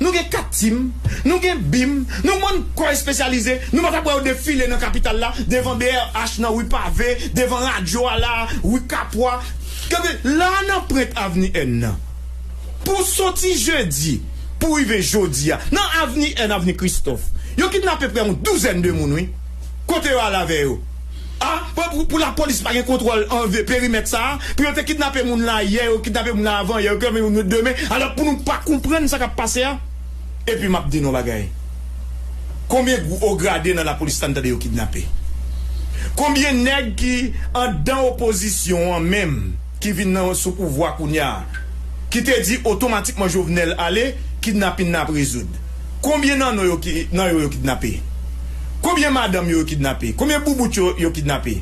Nou gen 4 tim, nou gen bim, nou bann kò espesyalize, nou pa tap wè yo defile nan kapital la, devan brh nan ri pave, devan radyo a la a, ri kapwa, gade la a nan prent avni N nan. Pou soti jedi pou rive jodi a, nan avni N, avni Kristòf, yo kidnape prè yon douzèn de moun wi. Kote yo al avè yo? A, pou pou lapolis pa gen kontwòl anve perimèt sa a, pou yo te kidnape moun la yè, yo kidnape moun la avan yè, yo kidnape moun yo demen, alò pou nou pa konprann sa k ap pase a? Epi m ap di nou yon bagay, konbyen gwo ograde nan lapolis la n tande yo kidnape? Konbyen nèg ki andan opozisyon an menm? ki vin nan sou pouvwa kounya ki te di otomatikman Jovenel ale kidnapin nan ap rezoud konbyen nan nou yo nan yo yo kidnape konbyen madanm yo yo kidnape konbyen boubout yo yo kidnape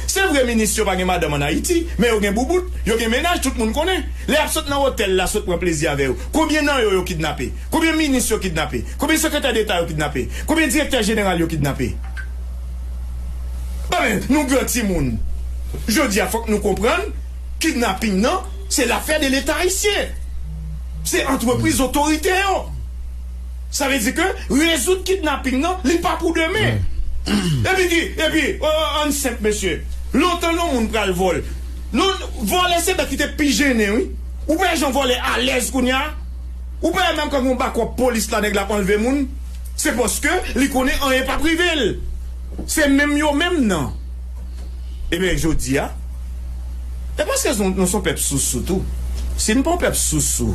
se vre minis yo pa gen madanm an ayiti men yo gen boubout yo gen mennaj tout moun konnen lè yap sot nan otèl la sot pran plezi avè yo konbyen nan yo yo kidnape konbyen minis yo kidnape konbyen sekretè deta yo kidnape konbyen direktè jeneral yo kidnape. Anben nou gran timoun jodi a fòk nou konprann kidnaping nan se lafè de leta ayisyen se antrepriz otorite yo sa vle di ke rezoud kidnaping nan li pa pou demen epi ki epi ann senp mesye lontan yon moun pral vòl non vòlè se bèk ki te pi jennen wi ou pa wè jan vòlè alèz kounya ou pa wè menm kan gon bakòp polis la nèg la ap anlve moun. Se paske li konnen anyen pap rive l. Se menm yo menm nan. Ebyen jodi a. E paske nou son pèp sousou tou. Si n pa yon pèp sousou,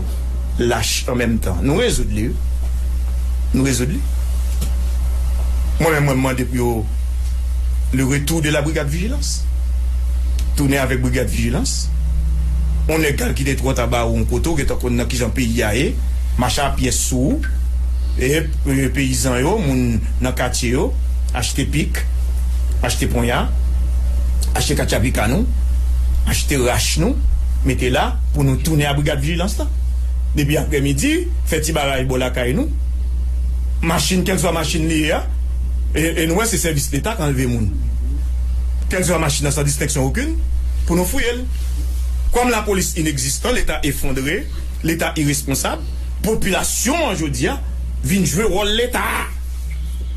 lach an menm tan. Nou rezoud li wi. Nou rezoud li. Mwen menm mwen mande pou yo le retou de la brigad vijilans. Tounen avèk brigad vijilans. Yon nèg k al kite tròt anba yon kote ou gentan konn nan kijan peyi a ye. Mache a pyès sou ou. Ep, peyizan yo, moun nan katye yo, achte pik, achte ponya, achte katchapika nou, achte rach nou, mete la pou nou tounen a brigad vijilans lan. Depi aprè midi, fè ti baraj bò lakay nou. Machin, kèlkeswa machin li ye a, e nou wè se sèvis Leta k anlve moun. Kèlkeswa machin nan san distenksyon okin, pou nou fouye l. Kòm lapolis inegzistan, Leta efondre. Leta iresponsab, popilasyon an jodi a vin jwe wòl Leta.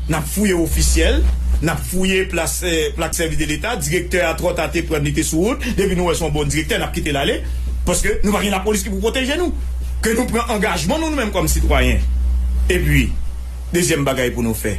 N ap fouye ofisyèl, n ap fouye plas plak sèvis de Leta, direktè a twò ta te pran n li te sou wout, depi nou wè se yon bon direktè n ap kite l ale paske nou pa gen lapolis ki pou pwoteje nou ke nou pran angajman nou nou menm kòm sitwayen. Epi dezyèm bagay pou nou fè.